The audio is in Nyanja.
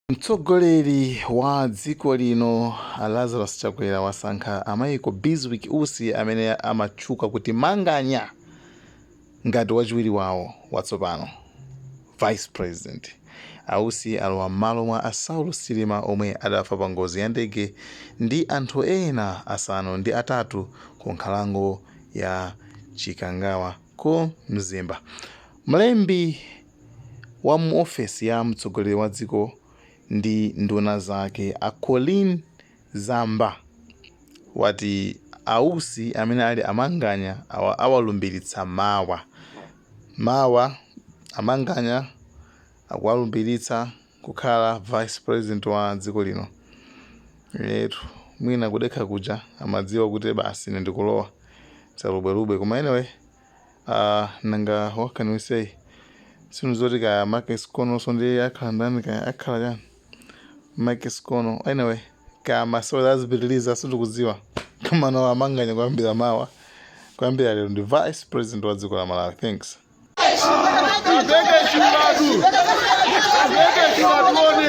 Mtsogoleri wa dziko lino a Lazarus Chakwera wasankha a Michael Bizwick Usi amene amatchuka kuti Manganya ngati wachiwiri wawo watsopano, Vice President. A Usi alowa mmalo mwa a Saulos Chilima omwe adafa pa ngozi ya ndege ndi anthu ena asanu ndi atatu ku nkhalango ya Chikangawa ku Mzimba. Mlembi. wa mu ofesi ya mtsogoleri wa dziko ndi nduna zake a Colleen Zamba wati a Usi amene ali a Manganya awalumbiritsa mawa. Mawa a Manganya akuwalumbiritsa kukhala vice president wa dziko lino. Eetu mwina kudekha kuja amadziwa kuti basi ine ndikulowa. Salubwalubwa koma anyway. uh nanga what can we say sinuzoti kaya Make Sikononso ndi akhala ndani kaya akhala chani Make Sikono anyway kaya masewera azipitiliza sindikudziwa koma now a Manganya kuyambira mawa kuyambira lero ndi vice president wa dziko la Malawi thanks Azeke chimatu. Azeke chimatu one.